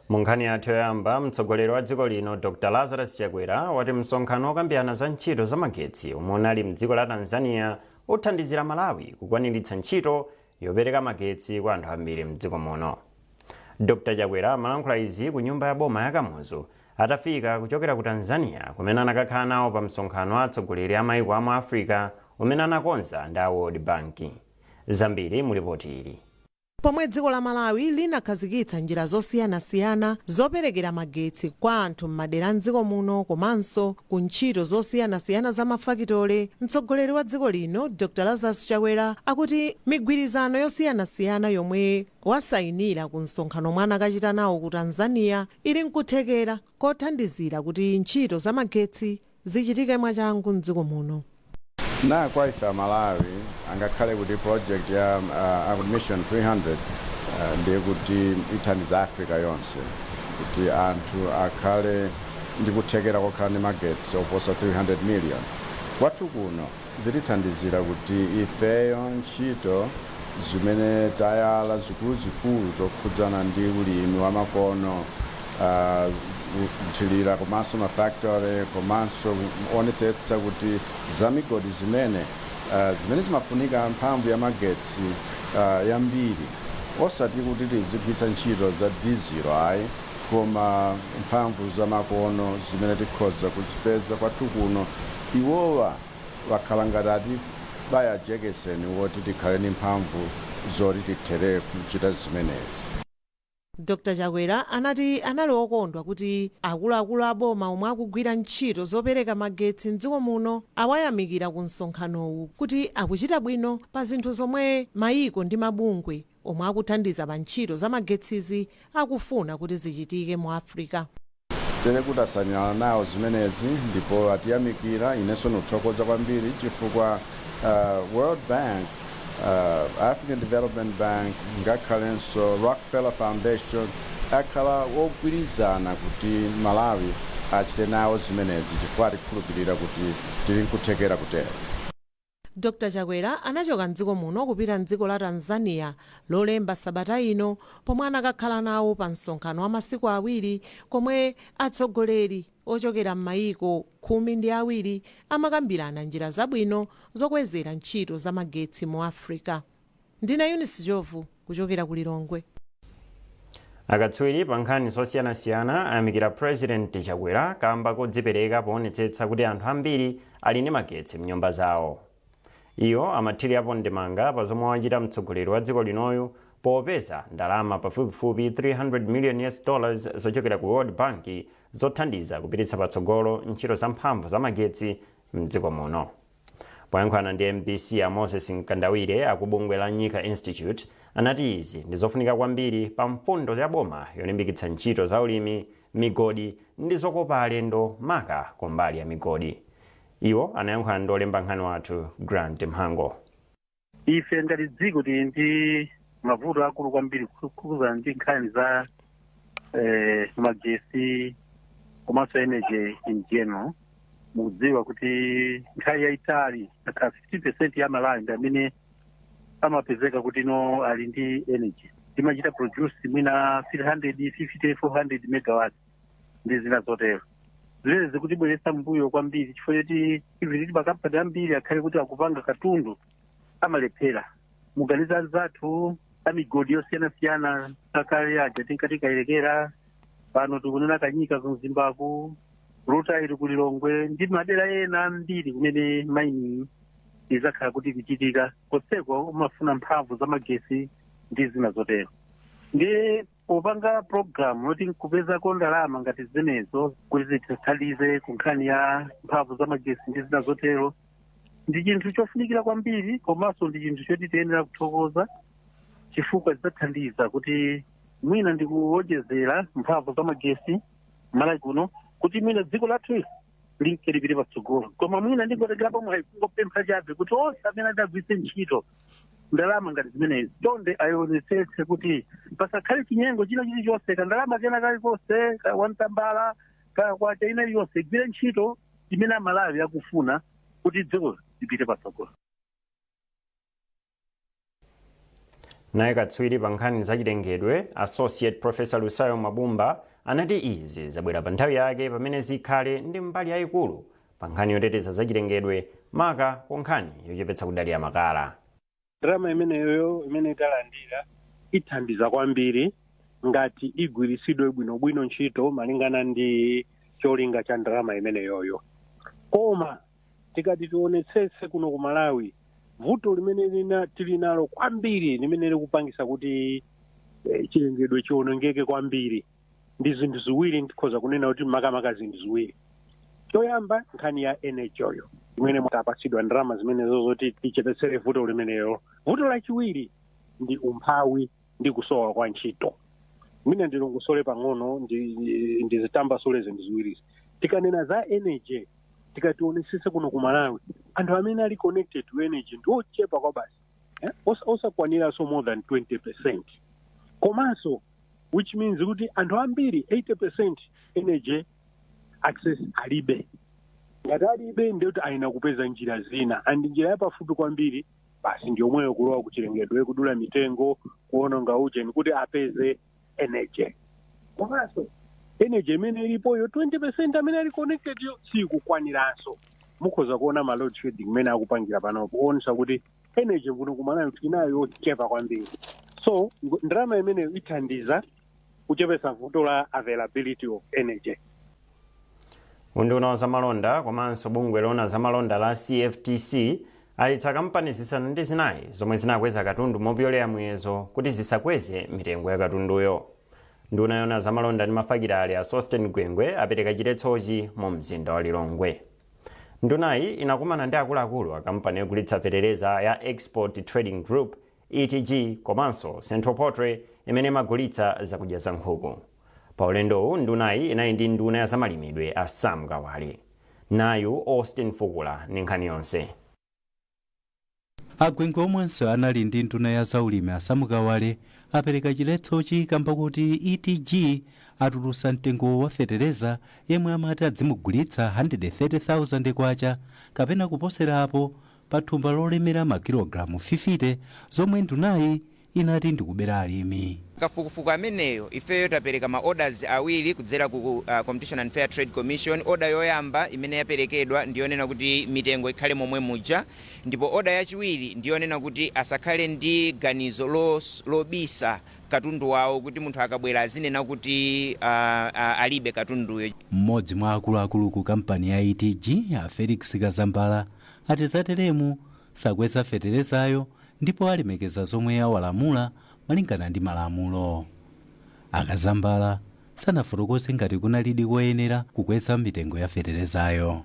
mu nkhani yathu yoyamba mtsogoleri wa dziko lino dr lazarus chakwera wati msonkhano wokambirana za ntchito za magetsi omwe unali mdziko la tanzania uthandizira malawi kukwaniritsa ntchito yopereka magetsi kwa anthu ambiri mdziko muno dr chakwera amalankhula izi ku nyumba ya boma ya kamuzu atafika kuchokera ku tanzania kumene anakakhala nawo pa msonkhano wa atsogoleri a maiko a mu africa umene anakonza ndi a world bank zambiri mu lipoti ili. Pomwe dziko la Malawi linakhazikitsa njira zosiyanasiyana zoperekera magetsi kwa anthu m'madera a m'dziko muno komanso ku ntchito zosiyanasiyana za mafakitole, mtsogoleri wa dziko lino Dr Lazarus Chakwera akuti migwirizano yosiyanasiyana yomwe wasayinira ku msonkhano omwe anakachita nawo ku Tanzania ili nkuthekera kothandizira kuti ntchito za magetsi Zichitike mwachangu m'dziko muno. Naa kwa ife amalawi angakhale kuti project ya Mission 300 ndiye kuti ithandiza africa yonse kuti anthu akhale ndi kuthekera kokhala ndi magetsi oposa 300 million kwathu kuno zitithandizira kuti ifeyo ntchito zimene tayala zikuluzikulu zokhudzana ndi ulimi wa makono, kuthilira komanso ma factory komanso kuonetsetsa kuti za migodi zimene zimene zimafunika mphamvu ya magetsi yambiri osati kuti tizigwitsa ntchito za dizilo ayi koma mphamvu za makono zimene tikhoza kuzipeza kwathu kuno Iwowa akhala ngati atibaya jekeseni woti tikhale ndi mphamvu zoti tithere kuchita zimenezi. Dr Chakwera anati anali okondwa kuti akuluakulu a boma omwe akugwira ntchito zopereka magetsi m'dziko muno awayamikira ku msonkhanowu kuti akuchita bwino pa zinthu zomwe mayiko ndi mabungwe omwe akuthandiza pa ntchito za magetsizi akufuna kuti zichitike mu Africa. Tere kuti tasainirana nawo zimenezi ndipo atiyamikira inenso nkuthokoza kwambiri chifukwa uh, World Bank uh, African Development Bank ngakhalenso Rockefeller Foundation akhala wogwirizana kuti Malawi achite nawo zimenezi chifukwa atikhulupirira kuti tili nkuthekera kutero Dr Chakwera anachoka m'dziko muno kupita m'dziko la Tanzania lolemba sabata ino pomwe anakakhala nawo pa msonkhano wa masiku awiri komwe atsogoleri ochokera m'mayiko khumi ndi awiri amakambirana njira zabwino zokwezera ntchito za magetsi mu Africa. Ndine Eunice Ndhlovu kuchokera ku Lilongwe. Akatswiri pa nkhani zosiyanasiyana ayamikira Purezidenti Chakwera kamba kodzipereka poonetsetsa kuti anthu ambiri ali ndi magetsi m'nyumba zawo. Iwo amathirirapo ndemanga pa zomwe wachita mtsogoleri wa dziko linoyu popeza ndalama pafupifupi 300 million US dollars zochokera ku World Bank zothandiza kupititsa patsogolo ntchito za mphamvu za magetsi m'dziko muno. Poyankhulana ndi mbc, a Moses Mkandawire aku bungwe la Nyika Institute anati izi ndi zofunika kwambiri pa mfundo ya boma yolimbikitsa ntchito za ulimi, migodi ndi zokopa alendo maka kumbali ya migodi. Iwo anayankhulana ndi wolemba nkhani wathu Grant Mhango. ife ngati dziko tili ndi mavuto akulu kwambiri kukhudzana ndi nkhani za eh, magesi komanso energy in general mukudziwa kuti nthawi yayitali akhala 15 percent ya Amalawi ndi amene amapezeka kuti no ali ndi energy timachita produce mwina 350 400 megawatts ndi zina zotero zimene zikutibweretsa mbuyo kwambiri chifukwa choti even ndi makampani ambiri akhale kuti akupanga katundu amalephera mukaganiza anzathu amigodi yosiyanasiyana akale aja tinkati kayerekera pano tikunena kanyika ku mzimbaku rutile ili ku lilongwe ndi madera ena ambiri kumene mining izakhala kuti ikuchitika konseko amafuna mphamvu za magesi ndi zina zotero ndi popanga program yoti nkupezako ndalama ngati zimenezo kuti zitithandize ku nkhani ya mphamvu za magesi ndi zina zotero ndi chinthu chofunikira kwambiri komanso ndi chinthu choti tiyenera kuthokoza chifukwa zidzathandiza kuti mwina ndi kuwonjezera mphamvu za magesi malawi kuno kuti mwina dziko lathu lithe lipite patsogolo koma mwina ndingotengerapo mwayi kungopempha chabe kuti onse amene adzagwiritse ntchito ndalama ngati zimenezi chonde ayionetsetse kuti pasakhale chinyengo china chilichonse kandalama kena kalikonse ka wantambala ka kwacha ina iliyonse igwire ntchito imene amalawi akufuna kuti dziko lipite patsogolo naye katswiri pa nkhani zachilengedwe associate professor lusayo Mwabumba anati izi zabwera pa nthawi yake pamene zikhale ndi mbali yayikulu pankhani yoteteza zachilengedwe maka kunkhani yochepetsa kudalira makala ndalama imeneyoyo imene talandira ithandiza kwambiri ngati igwiritsidwe bwinobwino ntchito malingana ndi cholinga cha ndalama imeneyoyo koma tikati tionetsetse kuno ku malawi vuto limene tili nalo kwambiri limene likupangisa kuti eh, chilengedwe chiwonongeke kwambiri ndi zinthu ziwiri ndikhoza kunena kuti makamaka zinthu ziwiri choyamba nkhani ya energy yo imene mutapatsidwa ndalama zimenezo zoti tichepetsere vuto limenelo vuto lachiwiri ndi umphawi ndi kusowa kwa ntchito mwina ndilongosole pang'ono ndi- ndi- ndizitambasule zinthu ziwirizi tikanena za energy tikationesese kuno ku malawi anthu amene ali connected to energy ndi ochepa kwabasi eh, osa- osakwaniranso more than 20 percent komanso which means kuti anthu ambiri 80 percent energy access alibe ngati alibe ndiyoti ayenera kupeza njira zina and njira yapafupi kwambiri basi ndi yomweyo kulowa kuchilengedwe kudula mitengo kuononga ujeni kuti apeze energy komanso energy imene ilipoyo 20 percent amene ali connected yo sikukwaniranso mukhoza kuona ma load shedding imene akupangira panopo kuonesa kuti energy kuno ku malawi tili nayo yochepa kwambiri so ngo- ndalama imeneyo ithandiza kuchepesa vuto la availability of energy Unduna wa zamalonda komanso bungwe loona zamalonda la CFTC aletsa kampani zisanu ndi zinayi zomwe zinakweza katundu mopyolera muyezo kuti zisakweze mitengo ya katunduyo. Nduna yoona zamalonda ndi mafakitale a Sosten Gwengwe apereka chiletsochi mu mzinda wa Lilongwe. Ndunayi inakumana ndi akuluakulu a kampani yogulitsa fetereza ya Export Trading Group ETG komanso Central Poultry imene imagulitsa zakudya za nkhuku. Pa ulendowu ndunayi inali ndi nduna ya zamalimidwe a Sam Kawale. Nayu Austin Fukula ndi nkhani yonse. A Gwengwe omwenso anali ndi nduna ya zaulimi a Sam Kawale apereka chiletsochi kamba koti ETG atulusa mtengo wa fetereza yemwe amati adzimugulitsa 130,000 kwacha kapena kuposera apo pa thumba lolemera makilogalamu 50 zomwe ndunayi inati ndikubera alimi. kafukufuku ameneyo, ifeyo tapereka ma orders awiri kudzera ku Competition and Fair Trade Commission. Order yoyamba imene yaperekedwa ndi yonena kuti mitengo ikhale momwe muja ndipo order yachiwiri ndi yonena kuti asakhale ndi ganizo lobisa katundu wawo kuti munthu akabwera azinena kuti alibe katunduyo. M'modzi mwa akuluakulu ku kampani ya ETG, a Felix Kazambala, ati zateremu sakweza feterezayo ndipo alemekeza zomwe awalamula malingana ndi malamulo. A Kazambala sanafotokoze ngati kunalidi koyenera kukweza mitengo ya feterezayo.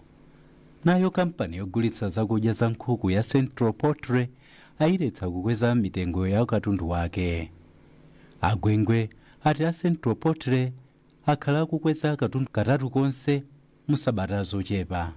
Nayo kampani yogulitsa zakudya za nkhuku ya Central Poultry ayiletsa kukweza mitengo ya katundu wake. A Gwengwe ati a Central Poultry akhala akukweza katatu konse mu sabata zochepa.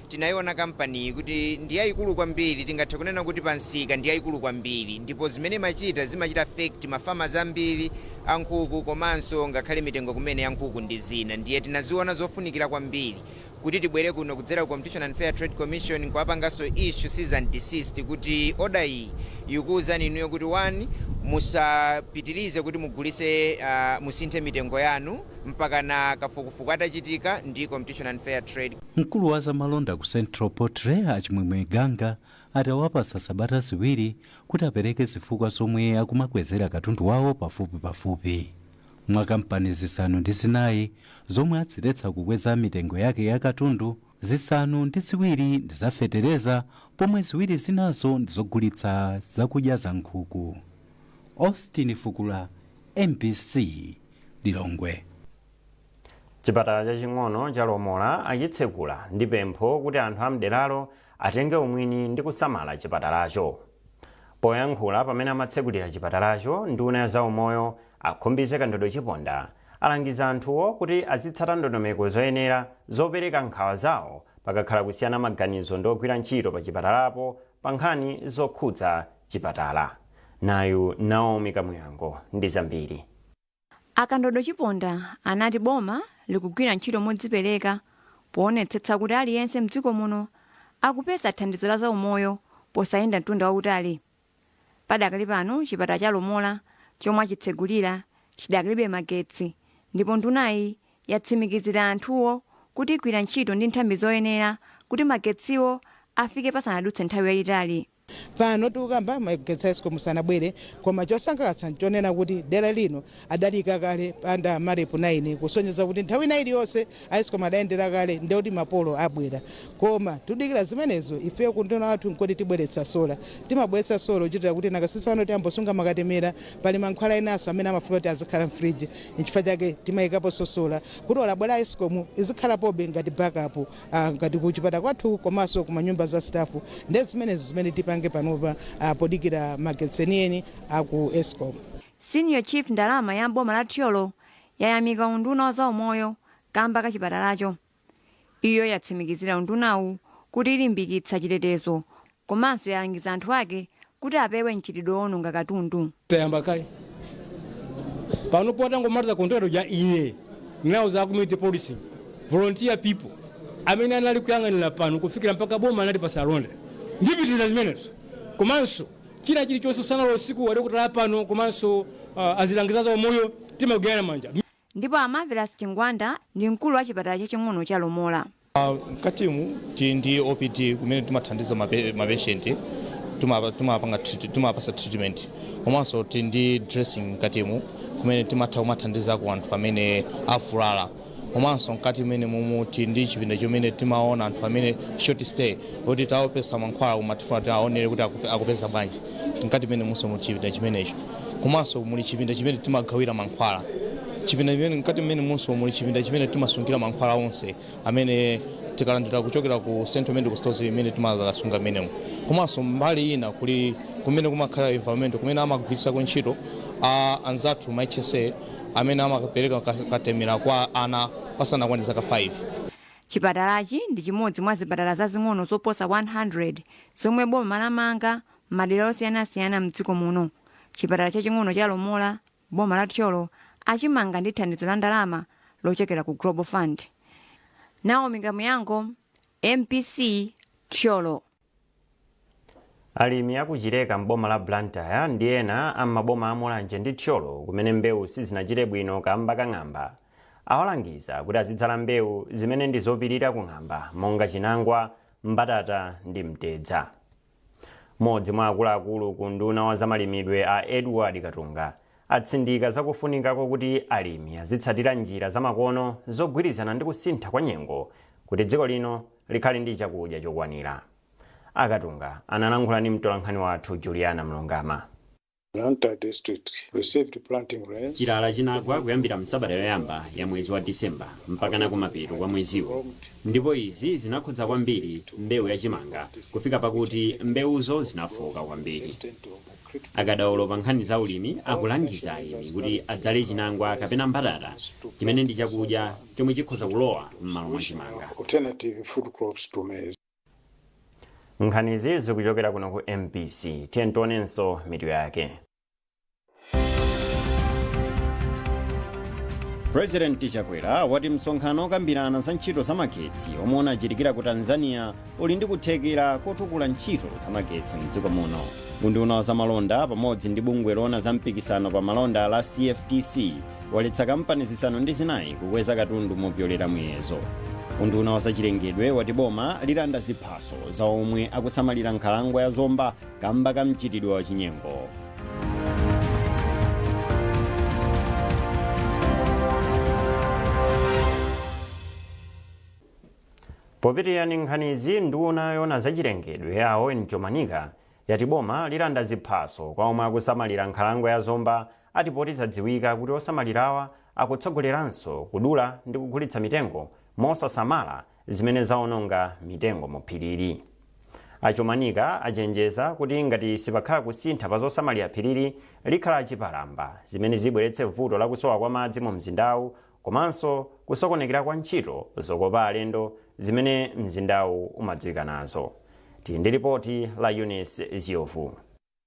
Tinaiona kampaniyi kuti ndi yaikulu kwambiri, tingathe kunena kuti pa msika ndi yaikulu kwambiri ndipo zimene imachita, zimachita affect ma farmers ambiri a nkhuku komanso ngakhale mitengo kumene ya nkhuku ndi zina ndiye tinaziona zofunikira kwambiri kuti tibwere kuno kudzera ku Competition and Fair Trade Commission kuwapanganso issue cease and desist kuti order iyi ikuuzani inuyo kuti one musapitirize kuti mugulise uh, musinthe mitengo yanu mpakana kafukufuku atachitika ndi Competition and Fair Trade Mkulu wa zamalonda ku Central Poultry a Chimwemwe Ganga ati awapatsa sabata ziwiri kuti apereke zifukwa zomwe akumakwezera katundu wawo pafupipafupi. Mwa kampani zisanu ndi zinayi zomwe aziletsa kukweza mitengo yake ya katundu, zisanu ndi ziwiri ndi za fetereza pomwe ziwiri zinazo ndi zogulitsa zakudya za nkhuku. Austin Fukula, mbc, Lilongwe. Chipatala chaching'ono cha Lomola achitsekula ndi pempho kuti anthu a mderalo atenge umwini ndi kusamala chipatalacho. Poyankhula pamene amatsekulira chipatalacho, nduna ya zaumoyo a Khumbize Kandodo Chiponda alangiza anthuwo kuti azitsata ndondomeko zoyenera zopereka nkhawa zawo pakakhala kusiyana maganizo ndi ogwira ntchito pa chipatalapo pa nkhani zokhudza chipatala. Nayu Naomi Kamuyango ndi zambiri. A Kandodo Chiponda anati boma likugwira ntchito modzipereka poonetsetsa kuti aliyense m'dziko muno akupeza thandizo la zaumoyo posayenda mtunda wautali. Padakali pano chipatala cha Lomola chomwe achitsegulira chidakalibe magetsi ndipo ndunayi yatsimikizira anthuwo kuti igwira ntchito ndi nthambi zoyenera kuti magetsiwo afike pasanadutse nthawi yayitali. Pano tikukamba magetsi a escom sanabwere koma chosangalatsa nchonena kuti dera lino adaliika kale under Marep 9 kusonyeza kuti nthawi ina iliyonse a escom adayendera kale ndiye kuti ma polo abwera koma tudikira zimenezo ifeyo kunduna kwathu nkoti tibweretsa solar timabweretsa solar kuchitira kuti makasitomala athu tiyambosunga makatemera pali mankhwala enanso amene amafuna kuti azikhala mfridge nchifukwa chake timaikaponso solar kuti olo abwera a escom izikhalapobe ngati backup ah, ngati kuchipatala kwathu komanso kumanyumba za stafu ndi zimenezi zimene tipange panopa ah, podikira magetsi enieni aku escom Senior Chief Ndalama ya m'boma la Thyolo yayamika unduna wa zaumoyo kamba ka chipatalacho. Iyo yatsimikizira undunawu kuti ilimbikitsa chitetezo komanso yalangiza anthu ake kuti apewe mchitidwe owononga katundu. tayamba kale pano potangomaliza contract uja ine ndinauza community policing volunteer people amene anali kuyang'anira pano kufikira mpaka boma anati pasalonda ndipitiriza zimenezo komanso china chilichonse usana ndi usiku adokotala pano komanso uh, azilangizi a za umoyo timagwirana manja Ndipo a Marvelous Chingwanda ndi mkulu wa chipatala chaching'ono cha Lomola. Mkatimu tili ndi OPD kumene timathandiza mapeshenti timawapasa treatment komanso tili ndi dressing mkatimu kumene timatha kumathandizako anthu amene avulala komanso mkati mwenemumu tili ndi chipinda chomene timaona anthu amene short stay oti tawapatsa mankhwala koma tifuna tiwaonere kuti akupeza bwanji mkati mwenemunso muchipinda chimenecho. komanso muli chipinda chimene timagawira mankhwala chipinda chimene mkati mwenemunso muli chipinda chimene timasungira mankhwala onse amene tikalandira kuchokera ku central medical stores imene timasunga mmenemo komanso mbali ina kuli kumene kumakhala environment kumene amagwiritsako ntchito a anzathu ma hsa amene amapereka ka- katemera kwa ana osakwanira zaka 5 chipatalachi ndi chimodzi mwa zipatala zazing'ono zoposa 100 zomwe boma lamanga M'madera osiyanasiyana m'dziko muno, chipatala chaching'ono cha Lomola m'boma la Thyolo achimanga ndi thandizo la ndalama lochokera ku Global Fund. Naomi Kamuyango, mbc, Thyolo. Alimi a ku Chileka m'boma la Blantyre ndi ena a m'maboma a Mulanje ndi Thyolo kumene mbewu sizinachite bwino kamba ka ng'amba awalangiza kuti azidzala mbewu zimene ndi zopirira ku ng'amba monga chinangwa, mbatata ndi mtedza. Mmodzi mwa akuluakulu ku unduna wa zamalimidwe a Edward Katunga atsindika za kufunika kokuti alimi azitsatira njira zamakono zogwirizana ndi kusintha kwa nyengo kuti dziko lino likhale ndi chakudya chokwanira. A Katunga analankhula ndi mtolankhani wathu Juliana Mlungama. Blantyre district received planting rains Chilala chinagwa kuyambira msabata yoyamba ya mwezi wa December mpakana kumapeto kwa mweziwo ndipo izi zinakhudza kwambiri mbewu ya chimanga kufika pakuti mbewuzo zinafooka kwambiri. Akadaulo pa nkhani za ulimi akulangiza alimi kuti adzale chinangwa kapena mbatata chimene ndi chakudya chomwe chikhoza kulowa mmalo mwa chimanga. alternative food crops to maize. nkhanizi zikuchokera kuno ku mbc tiyeni tionenso mitu yake purezidenti chakwera wati msonkhano okambirana za ntchito za magetsi omwe unachitikira ku tanzania uli ndi kuthekera kotukula ntchito za magetsi mdziko muno unduna wa zamalonda pamodzi ndi bungwe loona za mpikisano pa malonda la cftc waletsa kampani zisanu ndi zinayi kukweza katundu mopyolera muyezo unduna wa zachilengedwe wati boma lilanda ziphaso za omwe akusamalira nkhalango ya zomba kamba ka mchitidwe wa chinyengo popitiriza ndi nkhanizi nduna yoona zachilengedwe a owen chomanika yati boma lilanda ziphaso kwa omwe akusamalira nkhalango ya zomba ati poti zadziwika kuti osamalirawa akutsogoleranso kudula ndi kugulitsa mitengo mosasamala zimene zaononga mitengo mu phirili. A Chomanika achenjeza kuti ngati sipakhala kusintha pa zosamalira phirili, likhala chipalamba zimene zibweretse vuto la kusowa kwa madzi mu mzindawu komanso kusokonekera kwa ntchito zokopa alendo zimene mzindawu umadziwika nazo. Tili ndi lipoti la Eunice Ziovu.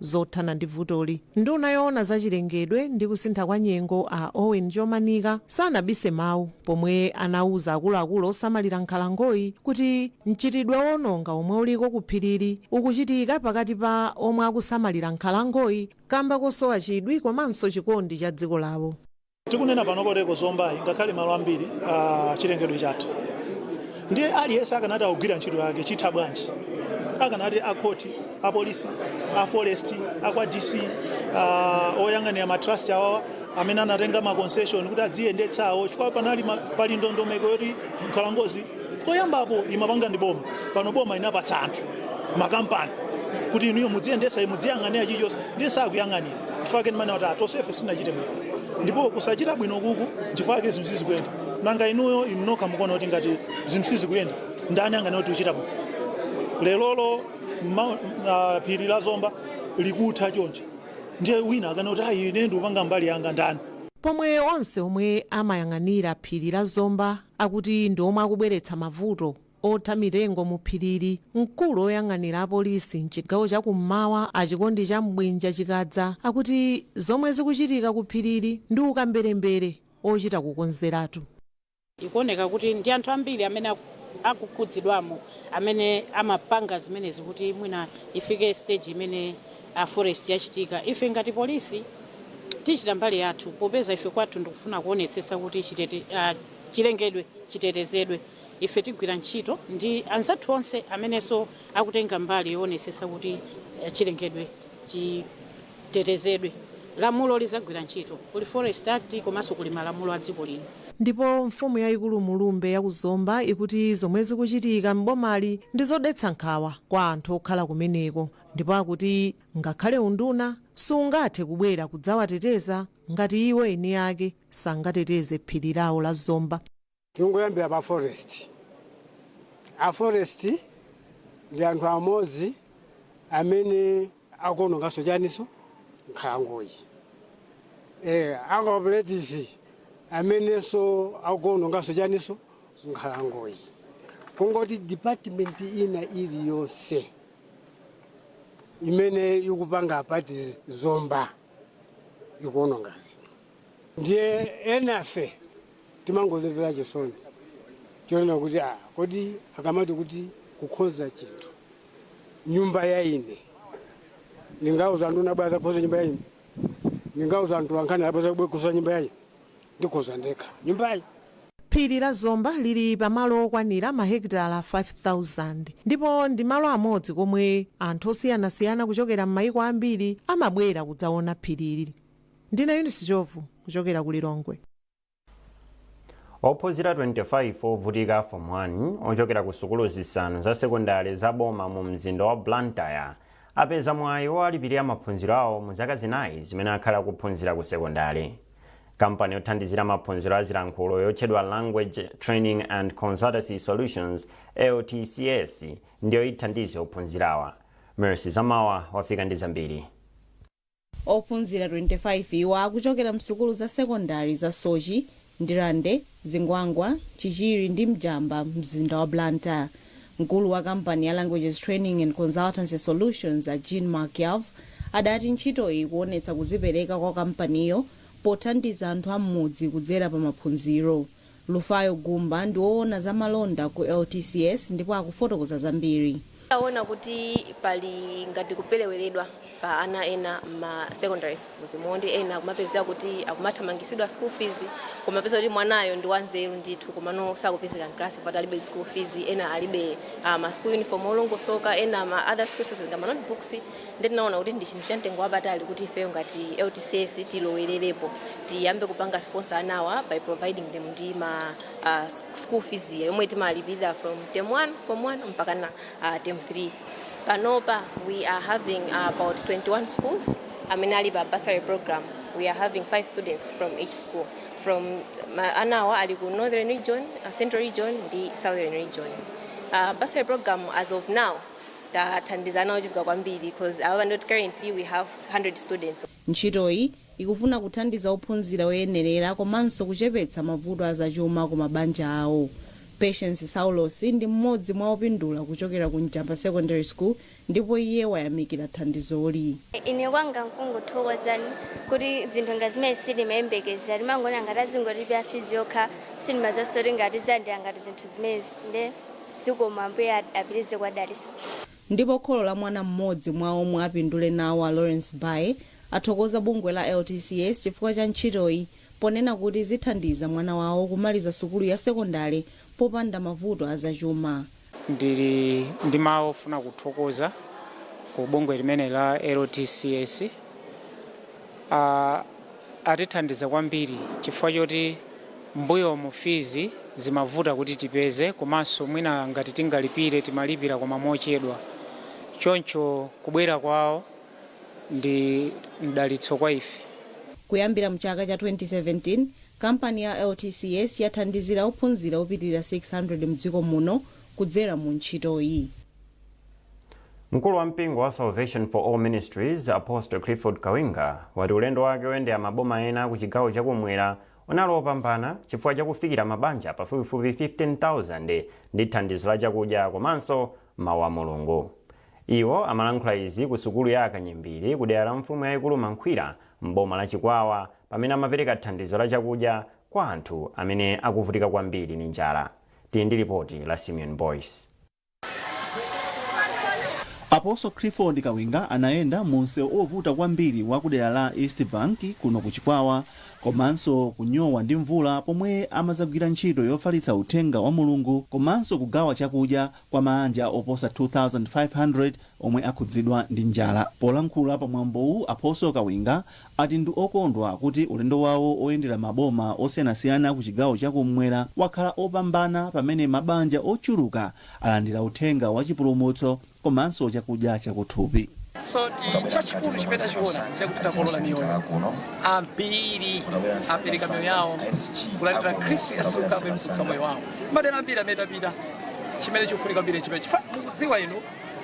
zothana ndi vutoli. Nduna yoona za chilengedwe ndi kusintha kwa nyengo a Owen Chomanika sanabise mawu pomwe anauza akuluakulu osamalira nkhalangoyi kuti mchitidwe oononga omwe uliko ku phirili ukuchitika pakati pa omwe akusamalira nkhalangoyi kamba kosowa chidwi komanso chikondi cha dziko lawo. Tikunena panopa kuti eko Zombayi ngakhale malo ambiri chilengedwe chatha, ndiye aliyense akanati akugwira ntchito yake chitha bwanji? Akanati a khoti, a polisi, a forest, a kwa DC, a oyang'anira ma trust awawa amene anatenga ma concession kuti adziyendetsa awo, chifukwa panali ma- pali ndondomeko yoti nkhalangozi koyambapo imapanga ndi boma, pano boma inapatsa anthu makampani kuti inuyo mudziyendetsa mudziyang'anira chilichonse, ndiye sakuyang'anira. chifukwa ake ndimanena kuti tonsefe sinachite bwino ndipo kusachita bwino kuku chifukwa ake zinthu sizikuyenda nanga inuyo inu nokha mukuona kuti ngati zinthu sizikuyenda ndani anganene kuti uchita bwino lerolo ma- ah, phiri la zomba likutha chonchi ndiye wina akane kuti ayi ine ndikupanga mbali yanga ndani pomwe onse omwe amayang'anira phiri la zomba akuti ndi omwe akubweretsa mavuto Otha mitengo mu phirili, mkulu oyang'anira a polisi mchigawo cha ku m'mawa a Chikondi Chambwinja Chikadza akuti zomwe zikuchitika ku phirili ndi ukamberembere ochita kukonzeratu. Ikuoneka kuti ndi anthu ambiri amene akukhudzidwamo amene amapanga zimenezi kuti mwina ifike stage imene a forest yachitika. Ife ngati polisi tichita mbali yathu popeza ife kwathu ndikufuna kuonetsetsa kuti chilengedwe chitetezedwe. Ife tigwira ntchito ndi anzathu onse amenenso akutenga mbali yoonetsetsa kuti chilengedwe chitetezedwe. Lamulo lidzagwira ntchito. Kuli Forest Act komanso kuli malamulo a dziko lino. Ndipo mfumu yaikulu Mlumbe ya ku Zomba ikuti zomwe zikuchitika m'bomali ndi zodetsa nkhawa kwa anthu okhala kumeneko ndipo akuti ngakhale unduna sungathe kubwera kudzawateteza ngati iwo eni ake sangateteze phiri lawo la Zomba. Tingoyambira pa forest. A forest ndi anthu amodzi amene akuononganso chaniso nkhalangoyi. Eh, a cooperative amenenso akuononganso chaniso nkhalangoyi. Kungoti department ina iliyonse imene ikupanga apa pa Zomba ikuononga zinthu. ndiye enafe timangozimvera chisoni chonena kuti ah, kodi akamati kuti kukonza chinthu nyumba ya ine ndingauze nduna abwere adzakonze nyumba ya ine ndingauze anthu ankhani abwere adzakonze nyumba ya ine ndikonza ndekha nyumbayi phiri la zomba lili pamalo okwanira mahekitala 5000 ndipo ndi malo amodzi komwe anthu osiyanasiyana kuchokera m'mayiko ambiri amabwera kudzaona phirili Ndine Eunice Ndhlovu kuchokera ku Lilongwe. Ophunzira 25 ovutika a Form 1 ochokera ku sukulu zisanu za sekondale za boma mu mzinda wa Blantyre apeza mwayi wowalipirira maphunziro awo mu zaka zinayi zimene akhale akuphunzira ku sekondale. Kampani yothandizira maphunziro a zilankhulo yotchedwa Language Training and Consultancy Solutions, LTCS, ndiyo ithandize ophunzirawa. Mercy Zamawa wafika ndi zambiri. Ophunzira 25 iwo akuchokera msukulu za sekondale za Soche, Ndirande, Zingwangwa, Chichiri ndi Njamba m'mzinda wa Blantyre. Mkulu wa kampani ya Languages Training and Consultancy Solutions a Jean Marc Yarbh adati ntchitoyi ikuonetsa kudzipereka kwa kampaniyo pothandiza anthu a m'mudzi kudzera pa maphunziro. Lufayo Gumba ndi woona za malonda ku LTCS ndipo akufotokoza zambiri. Taona kuti pali ngati kupereweredwa pa ana ena mma secondary schools moti ena akumapezeka kuti akumathamangitsidwa school fees kumapeza kuti mwanayo ndi wanzeru ndithu komano sakupezeka mclass chifukwa kuti alibe school fees, ena alibe ma school uniform olongosoka, ena ma other school resources ngati ma notebooks. nde tinaona kuti ndi chinthu cha mtengo wapatali kuti ifeyo ngati LTCS tilowererepo tiyambe kupanga sponsor anawa by providing them ndi ma uh, school fees yomwe timalipirira from term 1 form 1 mpaka na uh, term 3 panopa we are having uh, about 21 schools amene ali pa bursary program we are having five students from each school from ma- anawa ali ku northern region uh, central region ndi southern region uh, bursary program as of now tathandiza ana ochuluka kwambiri coz apapa ndoti currently we have 100 students. Ntchitoyi ikufuna kuthandiza ophunzira oyenerera komanso kuchepetsa mavuto a zachuma ku mabanja awo. Patience Saulosi ndi mmodzi mwa opindula kuchokera ku Njamba Secondary School ndipo iye wayamikira thandizoli. Ine kwanga nkungothokoza kuti zinthu ngati zimenezi sitimayembekezera timangoona ngati azingolipira fees yokha sitimadziwanso kuti ngati tidzalandira ngati zinthu zimenezi nde. Zikomo ambuye apitirize kuwadalitsa. Ndipo kholo la mwana mmodzi mwa omwe apindule nawo a Lawrence Bae athokoza bungwe la LTCS chifukwa cha ntchitoyi ponena kuti zithandiza mwana wawo kumaliza sukulu ya sekondale popanda mavuto a zachuma. Ndili ndi mawu ofuna kuthokoza ku bungwe limeneli la LTCS. atithandiza kwambiri chifukwa choti mbuyomu fizi zimavuta kuti tipeze komanso mwina ngati tingalipire timalipira koma mochedwa choncho kubwera kwawo ndi mdalitso kwa ife. Kuyambira mchaka cha 2017, kampani ya LTCS yathandizira ophunzira opitilira 600 mdziko muno kudzera mu ntchitoyi. Mkulu wa mpingo wa Salvation for All Ministries, Apostle Clifford Kawinga, wati ulendo wake oyendera maboma ena ku chigawo chakumwera unali opambana chifukwa chakufikira mabanja pafupifupi 15,000 ndi thandizo la chakudya komanso mawu a Mulungu. Iwo amalankhula izi ku sukulu ya Akanyimbiri ku dera la mfumu yayikulu Makhwira m'boma la Chikwawa pamene amapereka thandizo la chakudya kwa anthu amene akuvutika kwambiri ndi njala. Tili ndi lipoti la Simeon Boyce. Apostle Clifford Kawinga anayenda mu msewu ovuta kwambiri wa ku dera la East Bank kuno ku Chikwawa komanso kunyowa ndi mvula pomwe amadzagwira ntchito yofalitsa uthenga wa Mulungu komanso kugawa chakudya kwa maanja oposa 2,500 omwe akhudzidwa ndi njala. Polankhula pa mwambowu, Apostle Kawinga ati ndi okondwa kuti ulendo wawo oyendera maboma osiyanasiyana ku chigawo cha kummwera wakhala opambana pamene mabanja ochuluka alandira uthenga wa chipulumutso komanso chakudya chakuthupi. Chachikulu chimene tachiona nchakuti takolola miyoyo. Ambiri apereka miyoyo yawo kulandira Khristu Yesu kukhala Mpulumutsi wa moyo wawo. Madera ambiri amene tapita, chimene chikufunika kwambiri nchimene chifukwa mukudziwa inu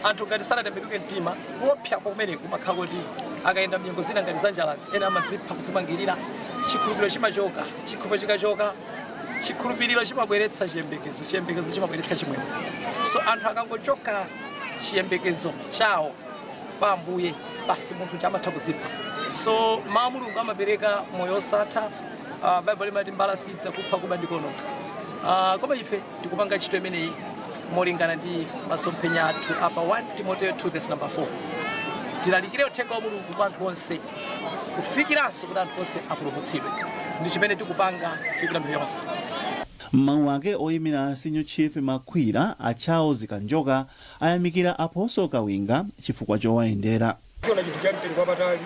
anthu ngati sanatembenuke mtima kuopsa kumeneku kumakhala koti akayenda mnyengo zina ngati zanjalazi ena amadzipha kudzimangirira chikhulupiriro chimachoka chikhulupiriro chikachoka chikhulupiriro chimabweretsa chiyembekezo chiyembekezo chimabweretsa chimwemwe so anthu akangochoka chiyembekezo chawo pa ambuye basi munthu uja amatha kudzipha so mawu a mulungu amapereka moyo osatha uh, baibulo limati mbala sidzakupha kuba ndi kuononga uh, koma ife tikupanga ntchito imeneyi molingana ndi masomphenya athu apa 1 timoteyo 2 vesi namba 4 tilalikire uthenga wa mulungu kwa anthu onse kufikiranso kuti anthu onse apulumutsidwe ndi chimene tikupanga kufikira mtundu wonse M'mawu ake oyimira Senior Chief Makhwira a Charles Kanjoka ayamikira Apostle Kawinga chifukwa chowayendera. Tiona chinthu cha mtengo wapatali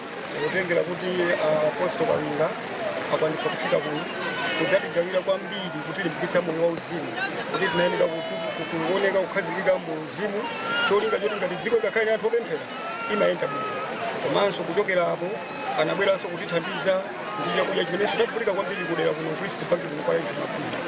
kutengera kuti Apostle Kawinga akwanitsa kufika kuno kudzatigawira kwambiri kutilimbikitsa moyo wauzimu kuti tinayenera kuoneka kukhazikika mu uzimu cholinga choti ngati dziko ngakhale anthu opemphera imayenda bwino komanso kuchokera apo anabweranso kutithandiza ndi chakudya chimenenso chafunika kwambiri kudera kuno ku East Bank kuno kwa mfumu Makhwira.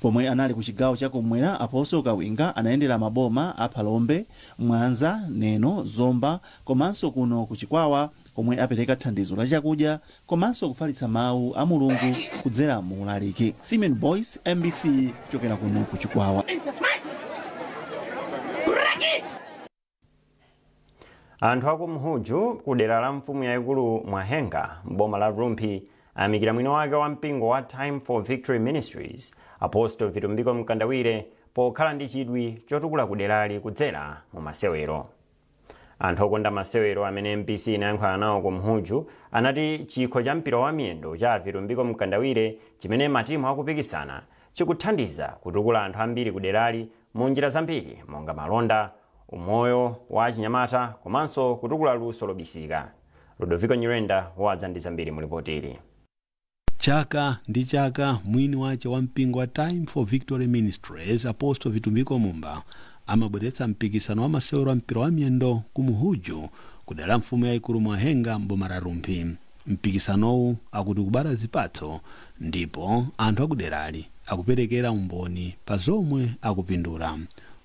Pomwe anali ku chigawo cha kum'mwera, Apostle Kawinga anayendera maboma a Phalombe, Mwanza, Neno, Zomba komanso kuno ku Chikwawa komwe apereka thandizo la chakudya komanso kufalitsa mawu a Mulungu kudzera mu ulaliki. Simeon Boyce, mbc, kuchokera kuno ku Chikwawa. Anthu aku Mhuju ku dera la mfumu yaikulu Mwahenga m'boma la Rumphi Ayamikira mwini wake wa mpingo wa Time for Victory Ministries, Apostle Vitumbiko Mkandawire pokhala ndi chidwi chotukula kuderali kudzera mu masewero. Anthu okonda masewero amene MBC inayankhulana nawo ku Mhuju anati chikho cha mpira wa miyendo cha Vitumbiko Mkandawire chimene matimu akupikisana chikuthandiza kutukula anthu ambiri kuderali mu njira zambiri monga malonda, umoyo wa achinyamata komanso kutukula luso lobisika. Ludoviko Nyirenda wadza ndi zambiri mu lipoti ili. Chaka ndi chaka mwini wache wa mpingo wa Time for Victory Ministries Apostle Vitumbiko Mumba amabweretsa mpikisano wa masewero a mpira wa miyendo ku Mhuju kudera la mfumu yaikulu Mwahenga m'boma la Rumphi. Mpikisanowu akuti ukubala zipatso Ndipo anthu akuderali akuperekera umboni pa zomwe akupindula.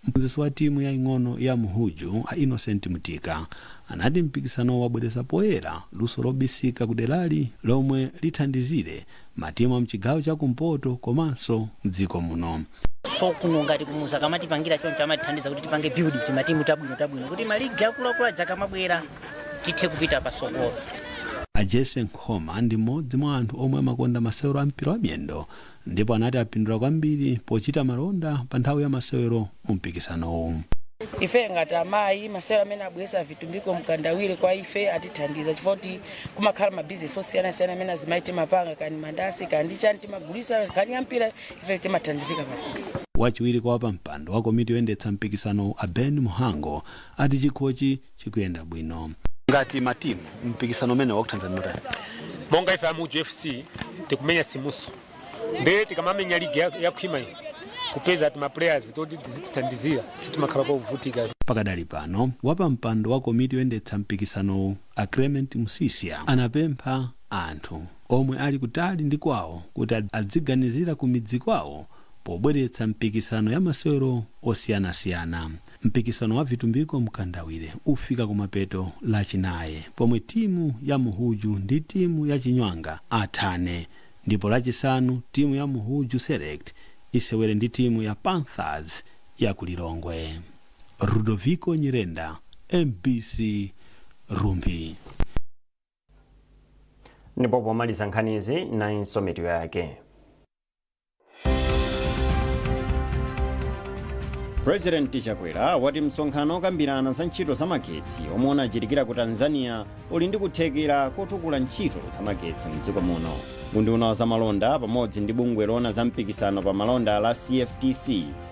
Mphunzitsi wa timu yaing'ono ya Mhuju, a Innocent Mtika, anati mpikisanowu wabweretsa poyera luso lobisika kuderali lomwe lithandizire matimu a mchigawo cha kumpoto komanso mdziko muno. so kuno ngati kumudzi akamatipangira choncho amatithandiza kuti tipange build timatimu tabwino tabwino kuti maligi akuluakulu aja akamabwera tithe kupita pasogolo a jese nkhoma ndi mmodzi mwa anthu omwe amakonda masewero a mpira wa miyendo ndipo anati apindula kwambiri pochita malonda pa nthawi ya masewero mu mpikisanowu ife ngati amayi masewero amene abwesa vitumbiko mkandawire kwa ife atithandiza chifukwa kuti kumakhala mabizinesi osiyanasiyana amene azimayi timapanga kaya ndi mandasi kaya ndi chani timagulisa akaseweretsa mpira Ifeyo timathandizika pakhomo. Wachiwiri kwa wapampando wa komiti yoyendetsa mpikisanowu a Ben Muhango ati chikhochi chikuyenda bwino. Ngati matimu, mpikisano umenewu wakuthandizani motani? Monga ife a Muhuju FC tikumenya Simso nde tikamamenya ligi yakhwima iyi kupeza tima players toti tizitithandizira sitimakhala povutika. Pakadali pano, wapampando wa komiti yoyendetsa mpikisanowu a Clement Msisya anapempha anthu. omwe ali kutali ndi kwawo kuti adziganizira ku midzi kwawo pobweretsa mipikisano ya masewero osiyanasiyana. Mpikisano wa vitumbiko mkandawire ufika kumapeto lachinayi pomwe timu ya Muhuju ndi timu ya Chinywanga athane ndipo lachisanu timu ya Muhuju Select isewere ndi timu ya Panthers ya ku Lilongwe. Rudoviko Nyirenda, mbc, Rumphi. ndipo pomaliza nkhanizi nayinso mitu yake purezidenti chakwera wati msonkhano okambirana za ntchito za magetsi omwe unachitikira ku tanzania uli ndi kuthekera kotukula ntchito za magetsi mdziko muno unduna wa zamalonda pamodzi ndi bungwe loona za mpikisano pa malonda la cftc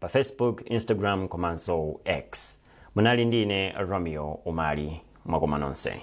pa Facebook, Instagram komanso X. Munali ndi ine Romeo Umali. Mwakoma nonse.